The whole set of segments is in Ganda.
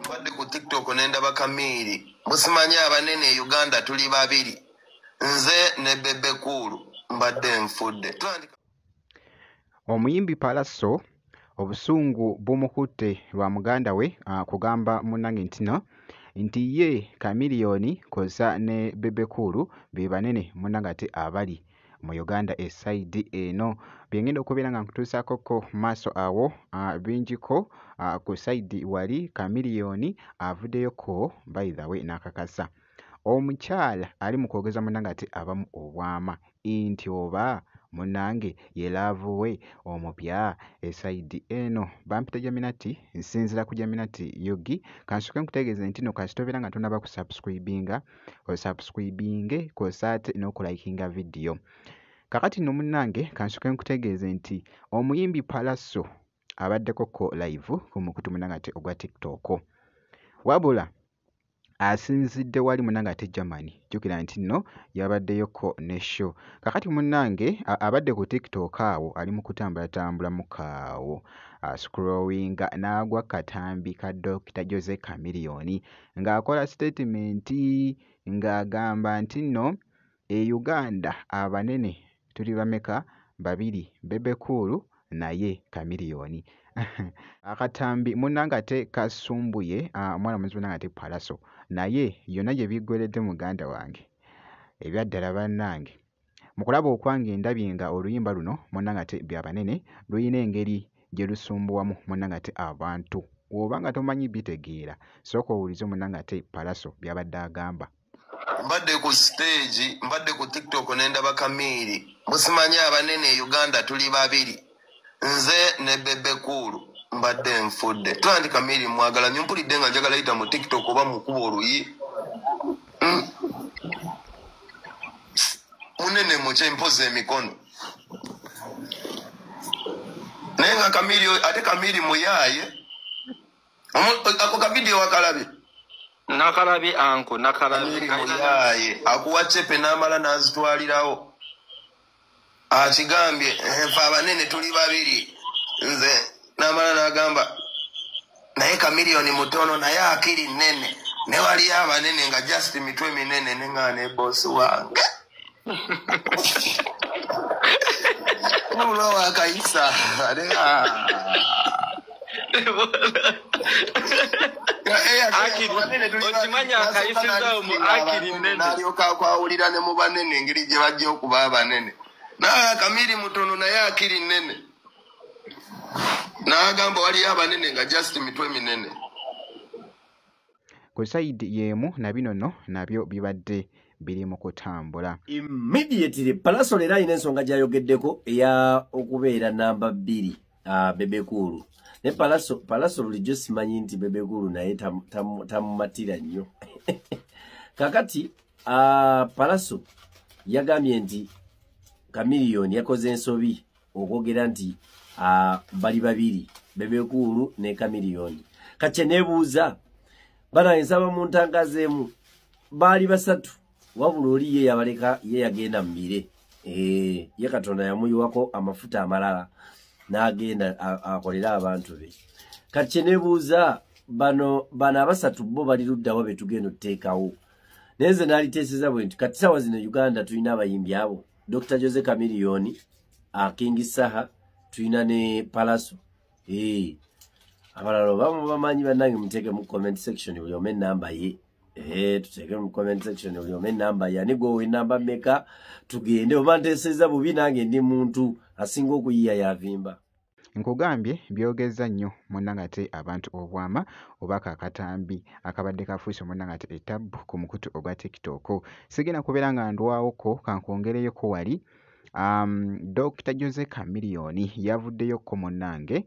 mbadde ku tiktok nendaba kamiiri musimanyi abanene e uganda tuli babiri nze ne bebe kuulu mbadde nfudde omuyimbi palaso obusungu bumukutte lwa muganda we ah, kugamba munange ntino nti ye kamiliyoni koza ne bebe kuulu be banene munange ate abali ah, mu Uganda esayidi eno byengenda okubeera nga nkutuusaako ko maaso awo bingiko ku sayidi wali kamiliyoni avuddeyo ko by the way n'akakasa omukyala ali mu kwogeza munna ng'ate abamu obwama nti oba munnange ye laavu we omupya esayidi eno bampita jaminati nsinzira ku jaminati yugi kansoke nkutegeeze nti no kasita obeera nga tonaba kusubscribinga osubscribinge kwosa ate n'okulayikinga vidiyo kakati no munnange kansoke nkutegeeze nti omuyimbi palaso abaddeko ko live ku mukutu munange ate ogwa tiktok wabula asinzidde wali munange ate germany jjukira nti nno yabaddeyoko ne show kakati munange abadde ku tiktok awo ali mu kutambulatambula mukaawo ascrowinga n'agwa katambi ka dokita jose kamiliyoni ng'akola sitetimenti ng'agamba nti nno e Uganda abanene tuli bameka babiri Bebe Cool naye Chameleone akatambi munnange ate kasumbuye omwana muzi munnange ate Pallaso naye yonna gye biggweredde muganda wange ebyaddala bannange. Mu kulaba okwange ndabye nga oluyimba luno munna ngate bya banene luyina engeri gye lusumbuwamu munna ngate abantu. Woba nga tomanyi bitegeera sooka owulize munna ngate Pallaso byabadde agamba. Mbadde ku stage, mbadde ku tiktok nendaba Kamiiri. Musimanyi abanene e Uganda tuli babiri. nze ne bebe kuulu mbadde nfudde tandika miri mwagala nyo mpulidde nga njagala yita mu tiktok oba mukuba oluyi hmm. munene mukye mpozi emikono naye nga kamiri ate kamiri muyaaye ako kavidiyo wakalabye nakalabi anko nakalabi muyaaye akuwa cepe namala nazitwalirawo akigambye nfe abanene tuli babiri nze namala nagamba naye kamiliyoni mutono naye akiri nene ne waliyo abanene nga just mitwe minene nenga nebosi wange nolwawakayisa okimanyi akayisizaawo mu akiri nene nalyoka akwawulira ne mu banene engeri gye bajja okuba abanene naye akamiri mutono naye akiri nene n'agamba waliyo abanene nga just mitwe minene ku sayidi y'emu na bino no nabyo bibadde biri mu kutambula immediately palasol era alina ensonga gyayogeddeko eya okubeera namba bbiri ah, bebekuulu ne palaso palaso bulijjo simanyi nti bebekuulu naye tamumatira nnyo kakati ah, palaso yagambye nti kamiliyoni yakoze ensobi okwogera nti ah, bali babiri bebekuulu ne kamiliyoni kakye nebuuza bana ensaba mu ntangazeemu baali basatu wabula oli ye yabaleka ye yagenda mu bire eh, ye katonda yamuyiwako amafuta amalala n'agenda akolere abantu be kati kyenebuuza bano bano abasatu bo bali luddawa be tugenda otuteekawo naye nze naliteeseza bwe nti kati saawa zino uganda tulina abayimbi abo dr jose camiliyoni akingi saha tulina ne palaso eh, abalala obamu bamanyi bannange muteeke mu comment section buli ome enamba ye Eh, tuteeke mu comment section buli omu enamba yani gwowa enamba meka tugende oba nteeseza bubi nange ndi muntu asinga okuyiya yavimba nkugambye byogezza nnyo munangate abantu obwama oba kakatambi akabadde kafuuse munangate etabbu ku mukutu ogwa tiktok sigenda kubeera nga ndwawoko kankwongereyoko wali um, dr jose camiliyoni yavuddeyo ko munange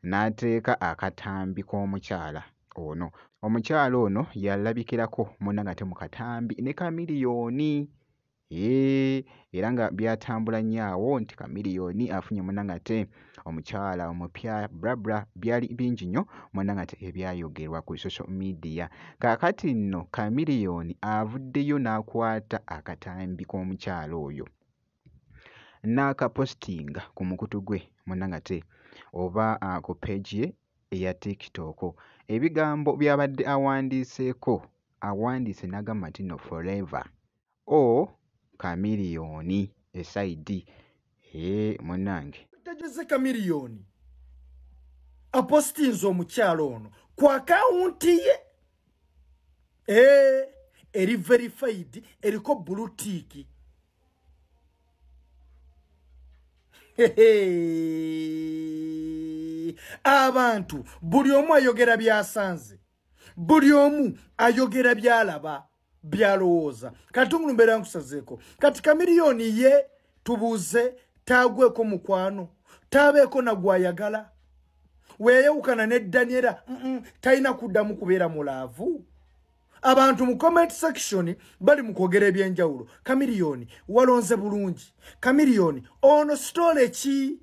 n'ateeka akatambi k'omukyala ono. Omukyala ono yalabikirako munne ng'ate mu katambi ne Chameleone. Hee, era nga byatambula nnyo awo nti Chameleone afunye munne ng'ate omukyala omupya bla bla, byali bingi nnyo munne ng'ate ebyayogerwa ku social media. Kaakati nno Chameleone avuddeyo n'akwata akatambi k'omukyala oyo. n'akapositinga ku mukutu gwe munnange ate oba ah, ku page ye eya TikTok. Ebigambo by'abadde awandiiseeko awandiise n'agamba nti no forever o chameleon esaidi ee munnange tegeze chameleon apositinze omukyalo ono ku akawunti ye ee eri verified eriko bulutiiki abantu buli omu ayogera byasanze buli omu ayogera byalaba byalowooza kati omuntu mbeera nkusazeeko kati kamiliyoni ye tubuuze taagweko mukwano taabeeko nagwayagala weyeyawukana ne daniela talina kuddamu kubeera mulaavu abantu mu comment section bali mu kwogera ebyenjawulo kamiliyoni walonze bulungi kamiliyoni ono sitole ki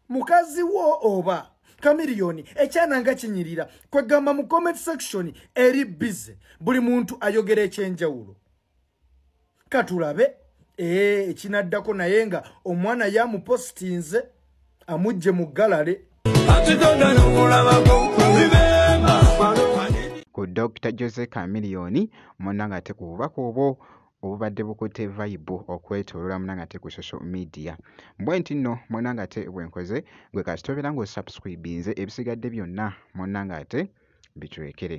mukazi wo oba kamiliyoni ekyananga kinyirira kwegamba mu comment section eri bize buli muntu ayogera ekyenjawulo katulabe eh, ekinaddako naye nga omwana yamupositinze amujje mu galale ku dr jose camiliyoni muna nga te ku bubaka obwo obubadde bukutte vayibu okwetolola muna nga te ku social media bwe nti nno muna nga te bwenkoze gwe kasitobeera ng'osubscribinze ebisigadde byonna muna nga te bitwekere